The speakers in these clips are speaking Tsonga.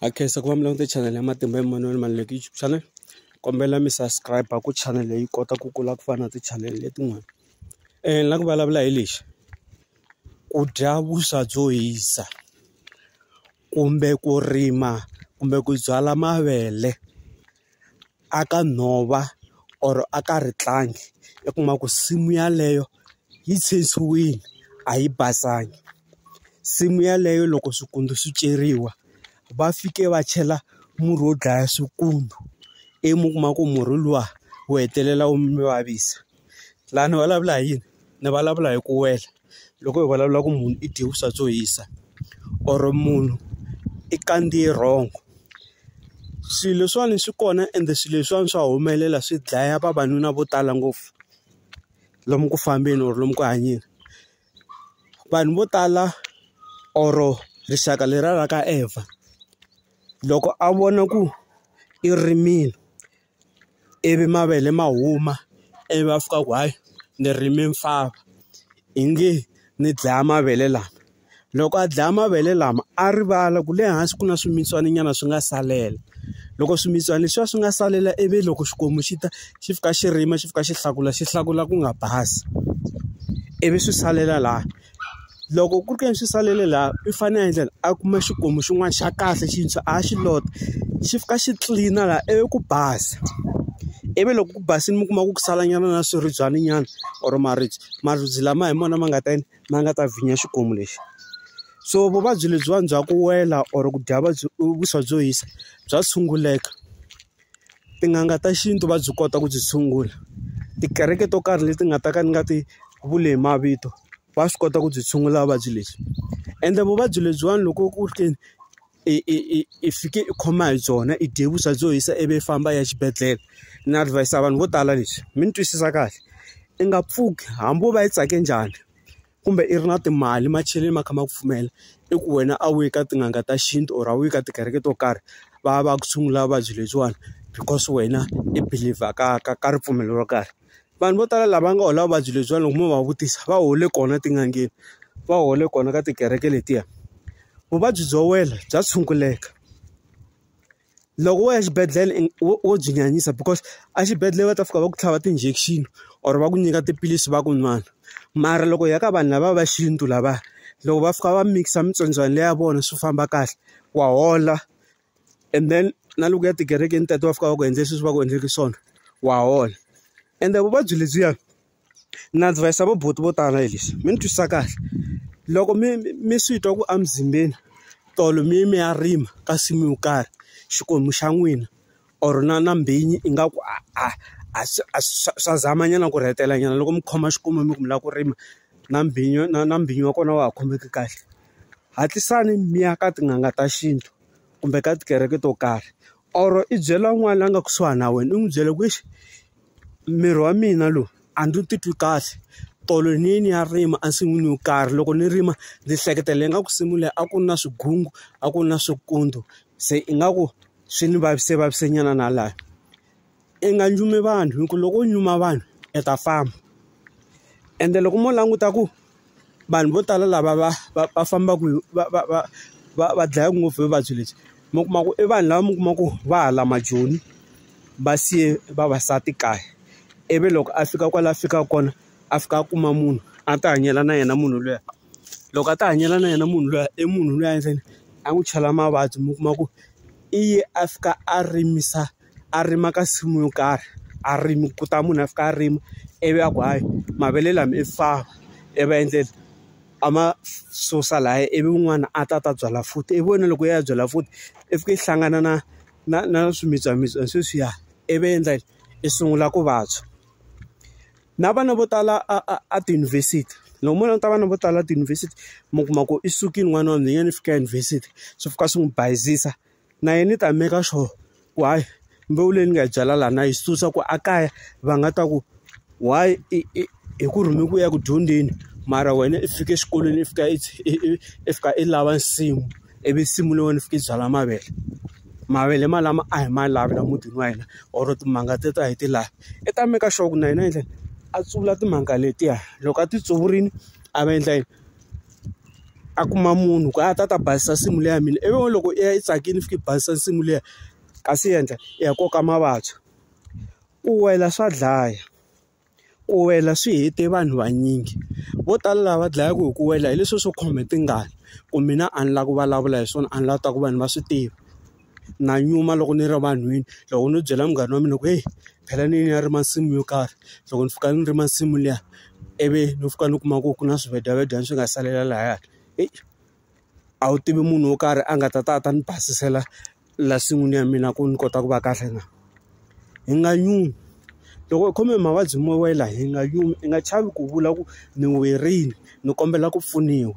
ha khensa ku va mi languta channel ya matimba emunhwini mali leyi YouTube channel kombela mi subscribe ku channel leyi kota ku kula ku fana na ti channel letin'wana ni la ku vulavula hi lexi ku dya vuswa byo hisa kumbe ku rima kumbe ku byala mavele a ka nhova or a ka ritlangi i kuma ku nsimu yeleyo yi tshwutshwiwile a yi basanga nsimu yeleyo loko swikwembu swi ceriwa va fike va chela murhi wo dlaya swikwembu ivi mi kuma ku murhi luwa wu hetelela wu mi vavisa. laha ni vulavula hi yini ni vulavula hi ku wela loko hi vulavula ku munhu i dye vuswa byo hisa or munhu i kandziye wrong swilo leswiwani swi kona ende swilo leswiwani swa humelela swi dlaya vavanuna vo tala ngopfu lomu ku fambeni or lomu ku hanyeni vanhu vo tala or rixaka leriya ra ka Evha loko a vona ku i rimile. ivi mavele ma huma ivi va fika ku hayi ni rime nfava i nge ni dlaya mavele lama loko a dlaya mavele lama a rivala ku le hansi ku na swimilana nyana swi nga salela loko swimilana leswiya swi nga salela ivi loko xikwembu xi ta xi fika xi rima xi fika xi hlakula xi hlakula ku nga basi ivi swi salela laha. Loko ku ri ke ni swi salele laha i fanele a endlela a kuma xikomu xin'wana xa kahle xintshwa a xi lota xi fika xi tlilina laha ivi ku basa ivi loko ku basile mi kuma ku sala nyana na swiribyana nyana or maribye maribye lama hi mona ma nga ta yini ma nga ta vhinya xikomu lexi so vuvabyi lebyiwani bya ku wela or ku dya vuswa byo hisa bya tshunguleka. tin'anga ta xintu va byi kota ku byi tshungula tikereke to karhi leti nga ta ka ni nga ti vuli hi mavito va swi kota ku byi tshungula vuvabyi lebyi ende vuvabyi lebyiwani loko ku ri ke ni i i i i fike i khoma hi byona i dye vuswa byo hisa ivi i famba i ya xibedhlele ni adhivayisa vanhu vo tala leswi mi ni twisisa kahle i nga pfuki hambi wo va yi tsake njhani kumbe i ri na timali macheleni ma kha ma ku pfumela i ku wena a wu yi ka tin'anga ta xintu or a wu yi ka tikereke to karhi va ya va ya ku tshungula vuvabyi lebyiwani because wena i believer ka ka ka ripfumelo ro karhi vanhu vo tala lava nga hola vuvabyi lebyiwani loko mo va vutisa va hole kona etin'angeni va hole kona ka tikereke letiya vuvabyi byo wela bya tshunguleka. Loko wo ya exibedhlele wo wo byi nyanyisa because exibedhlele va ta fika va ku tlhava ti-injection or va ku nyika tiphilisi va ku n'wana mara loko hi ya ka vanhu lava va xintu lava loko va fika va mikisa mitsondzwana liya ya vona swi famba kahle wa hola and then na loko ya tikerekeni teto va fika va ku endle sweswi va ku endleke swona wa hola ende vuvabyi lebyiya. na advise vo buti vo tala hi lexi mi ni twisisa kahle loko mi mi swi twa ku emzimbeni tolo mi ye mi ya rima ka nsimu yo karhi xikwembu xa n'wina or na na mbhinyi ingaku a a a swa a swa swa zama nyana ku rhetela nyana loko mi khoma xikomu mi ku mi lava ku rima na mbhinyo na na mbhinyo wa kona wa ha khomeki kahle hatlisani mi ya ka tin'anga ta xintu kumbe ka tikereke to karhi or i byela un'wana la nga kusuhani na wena u n'wi byela ku exi. Miri wa mina lowu a ndzi wu titwi kahle tolo ni ye ni ya rima ensin'wini yo karhi loko ni rima ndzi hleketela ingaku nsimu leyi a ku ri na swigungu a ku ri na swikontso se ingaku swi ni vavisekavavise nyana na laha i nga nyumi vanhu hi ku loko u nyuma vanhu i ta famba ende loko mo languta ku vanhu vo tala lava va va va fambaka va va va va va dlaya ngopfu hi vuvabyi lebyi mi kuma ku i vanhu lava mi kuma ku va hala majoni va siye vavasati kaya ivi loko a fika kwala a fikaka kona a fika a kuma munhu a ti hanyela na yena munhu luya loko a ti hanyela na yena munhu luya i munhu luya ntsena a n'wi chela mavabyi mi kuma ku i ye a fika a rimisa. a rima ka nsimu yo karhi a rimi ku ta munhu a fika a rima ivi a ku hayi mavele lama i fava i va endlela a ma susa lahaya ivi un'wana a ta ta byala futhi ivi wena loko u ya byala futhi i fika i hlangana na na na swimitswamitswa sweswiya ivi endla yini i sungula ku vabya na vana vo tala a a a tiyunivhesiti loko mo languta vana vo tala tiyunivhesiti mi kuma ku i sukile n'wana wa nhwanyana i fika eyunivhesiti swi fika swi n'wi bayizisa. na yena i ta meka sure ku hayi mbewu leyi ni nga yi byala laha na yi susa ku a kaya va nga ta ku why i i hi ku rhume ku ya ku dyondzeni mara wena i fike exikolweni i fika i i fika i lava nsimu ivi nsimu leyi wena i fika i byala mavele mavele malama a hi ma lavi la mutini wa hina or timanga te ta hi ti lavi i ta meka sure ku na yena endla yini a tsuvula timanga letiya loko a ti tsuvurile a va endla yini. a kuma munhu ku a ta ta basisa nsimu leyi ya mina ivi n'wana loko i ya i tsakile i fika i basisa nsimu liya kasi yendla i ya koka mavabyi ku wela swa dlaya ku wela swi hete vanhu vanyingi vo tala lava dlayaku hi ku wela hi leswi swo khome tingana ku mina a ni lava ku vulavula hi swona a ni lava ku ta ku vanhu va swi tiva. na nyuma loko ni ri vanhwini loko no byela munghana wa mina ku heyi phela ni ya rima nsimu yo karhi loko ni fika ni rima nsimu liya ivi ni fika ni kuma ku ku na swivedyavejani swi nga salela lahaya heyi a wu tivi munhu wo karhi a nga ta ta a ta ni basisela la nsin'wini ya mina ku ni kota ku va kahle na hi nga nyumi loko u khome hi mavabyi mo wela hi nga yumi i nga chavi ku vula ku ni werile ni kombela ku pfuniwa.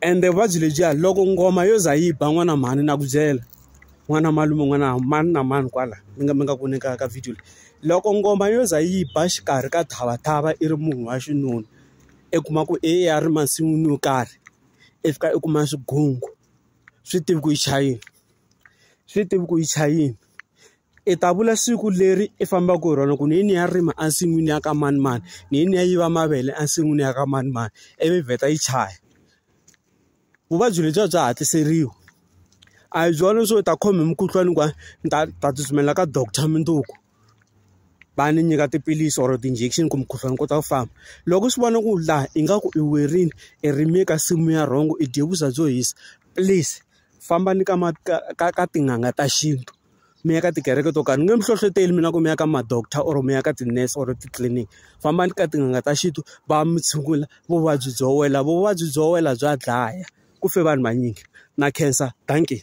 ende vuvabyi lebyiya loko ngoma yo za yi ba n'wana mhani na ku byela n'wana malume n'wana mani na mani kwala mi nga mi nga ku ni ka ka video leyi loko ngoma yo za yi ba xikarhi ka thava thava i ri munhu wa xinuna i kuma ku i ya ri masin'wini yo karhi i fika i kuma swigungu swi tivi ku yi chayini swi tivi ku yi chayini. I ta vula siku leri i fambaka hi rona ku ni yini ya rima ensin'wini ya ka manimani, ni yini ya yiva mavele ensin'wini ya ka manimani, ivi yi vheta yi chaya. Vuvabyi lebyi a bya hatliseriwi. A hi byona leswo u ta khoma hi mukhuhlwani kwani ni ta ta tsutsumela ka doctor mundzuku, va ni nyika tiphilisi or ti-injection ku mukhuhlwani wu kota ku famba. Loko u swi vona ku laha ingaku i werile, i rime ka nsimu ya wrong-o, i dye vuswa byo hisa, please fambani ka ka ka ka tin'anga ta xintu. mi ya ka tikereke to karhi ni nge mi hlohloteli mina ku mi ya ka ma-doctor or mi ya ka ti-nurse or titliliniki fambani ka tin'anga ta xintu va mi tshungula vuvabyi byo wela vuvabyi byo wela bya dlaya ku fe vanhu vanyingi na khensa dankie.